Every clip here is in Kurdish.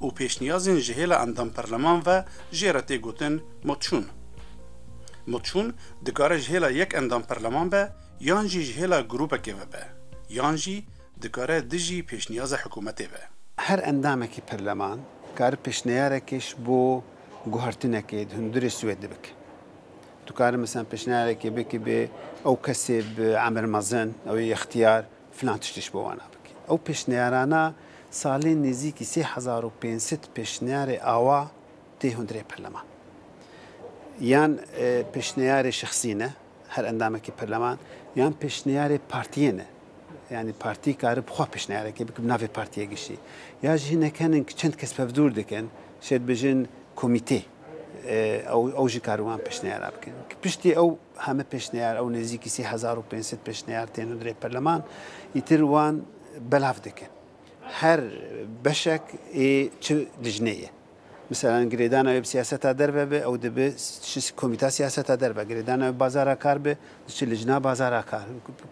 û pêşniyazên ji hêla endam perleman ve jê re tê gotin motşûn. Motşûn dikare ji hêla yek endam perleman be yan jî ji hêla grûpekê ve be yan jî dikare dijî pêşniyaza hikûmetê be. Her endamekî perleman dikare pêşneyarekê ji bo guhertinekê di hundirê Swêdê bike. Dikare mesela pêşneyarekê bike bê ew kesê bi emer mezin, ew ê îxtiyar, Filan tiştî ji bo wana bike. Ew pêşniyarana salên nêzîkî sê hezar û pênc sed pêşniyarê awa tê hundirê perleman. Yan pêşniyarê şexsî ne, her endamekî perleman, yan pêşniyarê partiyê ne. Yanî partî kare bi xwe pêşniyarekê bike bi navê partiyê giştî. Ya jî hinek henin ku çend kes bevdûr dikin, şêdibêjin komîtê. Ew jî karî wan pêşniyara bikin. Piştî ew heme pêşniyar, ew nêzîkî sê hezar û pênc sed pêşniyar tên û dirê perleman, îtir wan belav dikin. Her beşek ê çi lijnê ye. Miselan girêdana wê bi siyaseta derve be, ew dibe komîta siyaseta derve. Girêdana wê bi bazara kar be, diçe lijna bazara kar.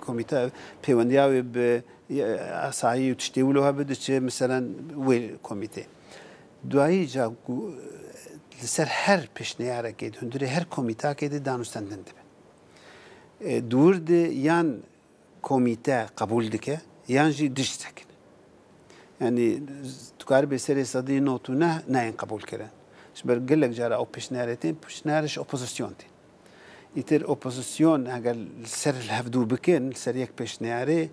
Komîta pêwendiya wê bi asayî û tiştê wilo hebe, diçe miselan wê komîtê. Duyî ca ku li ser her pêşneyarekê di hundirê her komîtakê de danûstendin dibe. Di wir de yan komîte qebûl dike yan jî dij sekine. Yanî dikaribê serê sedî not û neh neyên qebûlkirin. Ji ber gelek cara ew pêşneyarê tên, pêşneyarê ji opozîsyon tên. Îtir opozîsyon eger li ser li hev dû bikin li ser yek pêşniyarê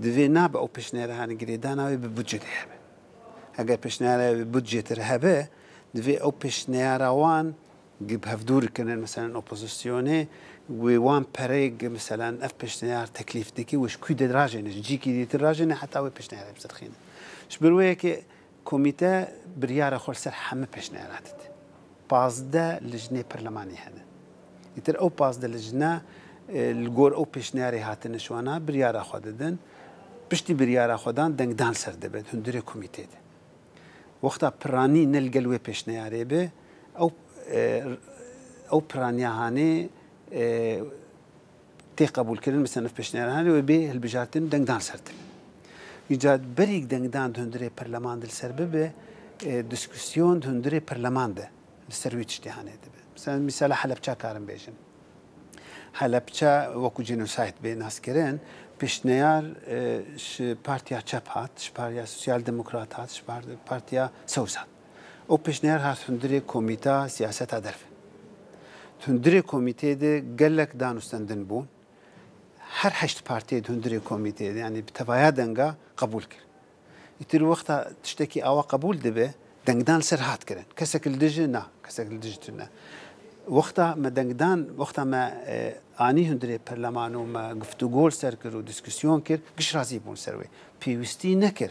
divê nabe ew pêşniyara hanê girêdana wê bi budcê tê hebe. Eger pêşniyara wê bi budcê tê re hebe divê ew pêşniyara wan gi bi hev dûr kinin meselen opozisyonê wê wan pereyê gi meselen ev pêşniyar teklîf dike wê ji kû de rajêne ji cîkî dîtir rajêne heta wê pêşniyara bicirxîne. Ji ber wê yekê Komîte biryara xwe li ser heme pêşniyara dide. Pazdeh lijnê perlemanî hene. Îtir ew pazdeh lijne li gor ew pêşniyarê hatine şwana, biryara xwe didin. Piştî biryara xwe dan dengdan ser dibe di hundirê komîtê de. Wexta piranî ne li gel wê pêşniyarê be, ew ew piraniya hanê tê qebûlkirin bi senf pêşniyarane wê bê hilbijartin dengdan ser tune. Înca berîk dengdan di hundirê perleman de li ser bibe, dîskûsyon di hundirê perleman de li ser wî tiştê hanê dibe. Misal mîsala Helepça karin bêjin. Helepça wekû genocide bê naskirin, pêşneyar ji partiya çep hat, ji partiya sosyal demokrat hat, ji partiya sewz hat. Ew pêşniyar hat hundirê komîta siyaseta derve. Di hundirê komîteyê de gelek danûstendin bûn. Her heşt partiyê di hundirê komîteyê de yanî bi tevaya denga qebûl kir. Îtir wexta tiştekî awa qebûl dibe dengdan li ser hat kirin. Kesek li dij e na, kesek li dij tune. Wexta me dengdan, wexta me anî hundirê perleman û me guftûgo li ser kir û dîskûsyon kir, giş razî bûn li ser wê. Pêwîstî nekir.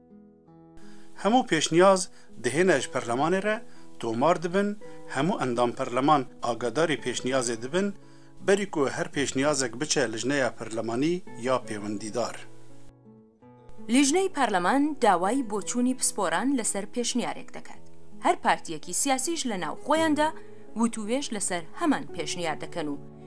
Hemû pêşniyaz dihêne ji perlemanê re, tomar dibin, hemû endam perleman agadarî pêşniyazê dibin, berî ku her pêşniyazek biçe lijneya perlemanî ya pêwendîdar. Lijney perleman dawayî boçûnî pisporan li ser pêşniyarek deket. Her partiyekî siyasî ji li nav xweyan de witûwêj li ser heman pêşniyar dikin û,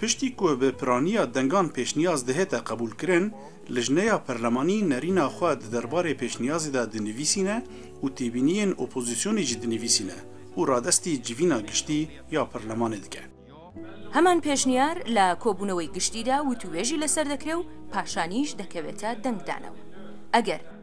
Piştî ku bi piraniya dengan pêşniyaz dihête qebûlkirin, lijneya perlemanî nerîna xwe di derbarê pêşniyazê de dinivîsîne û têbîniyên opozîsyonê jî dinivîsîne û radestî civîna giştî ya perlemanê dike. Heman pêşniyar li Kobûnewê Giştî de witûwêjî li ser dekire û paşanî jî dekevête dengdana wan. Eger.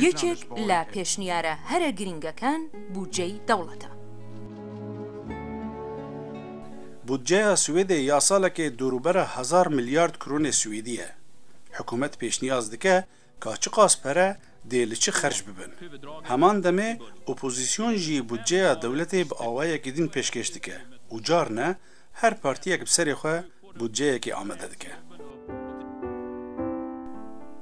Yekek li pêşniyara here girîngekan bûdcey dewlet e. Bûdceya Swêdê ya salekê dorûbera hezar milyard kronê swêdî ye. Hikûmet pêşniyaz dike ka çiqas pere dê li çi xerc bibin. Heman demê opozîsyon jî bûdceya dewletê bi awayekî din pêşkêş dike û carine Her partiyek bi serê xwe budceyekê amade dike.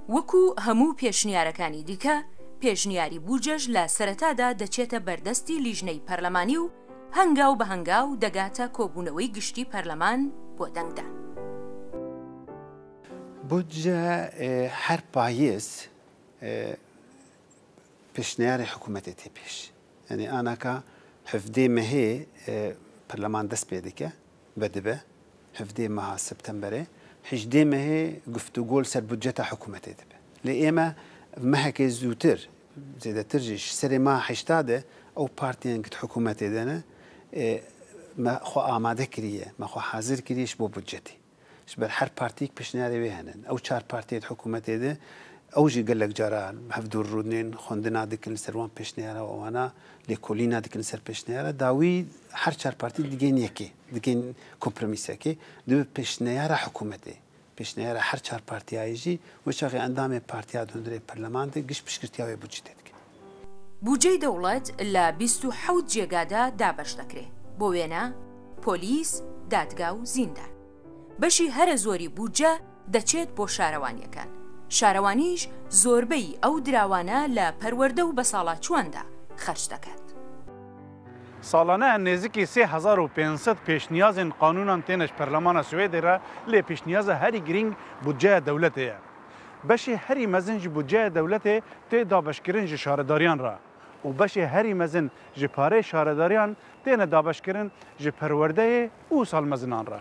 Wekû hemû pêşniyarekanî dîke, pêşniyarî bûcej le sereta de deçête berdestî lîjney perlemanî û hengaw bi hengaw degate kobûnewey giştî perleman bo dengdan. Budce her payîz. Pêşniyarê hikûmetê tê pêş. Yanî anaka hevdê mehê perleman dest pê dike, vedibe hevdê meha septemberê, hejdê mehê guftûgo li ser budceta hikûmetê dibe. Lê ême mehekê zûtir, zêdetir jî ji serê meha heşta de ew partiyên ku di hikûmetê de ne, me xwe amade kiriye, me xwe hazir kiriye ji bo budcetê. Ji ber her partiyek pêşniyarê wê hene. Ew çar partiyê di hikûmetê de ew jî gelek cara hevdûr rûnên xwendina dikin li ser wan pêşniyara û wana lêkolîna dikin li ser pêşniyara dawî her çar partî digên yekê digên kompromîsekê dibe pêşniyara hikûmetê. Pêşniyara her çar partiyayê jî weçaxê endamê partiya di hundirê perleman de giş piştgirtiya wê budcetê dikin. Bûceyê dewlet li bîst û hewt cêga de dabeş dikre, bo wêne, polîs, dadga û zîndan. Beşî here zorî bûce deçêt bo şarewaniyeken. Şarewanî jî zorbeyî ew dirawane li perwerde û besalaçûan de xerç diket. Salane nêzîkî sê hezar û pênc sed pêşniyazên qanûnan têne ji Perlemana Swêdê re, lê pêşniyaza herî girîng bûceya dewletê ye. Beşê herî mezin ji budceya dewletê tê dabeşkirin ji şaredariyan re û beşê herî mezin ji parê şaredariyan têne dabeşkirin ji perwerdeyê û salmezinan re.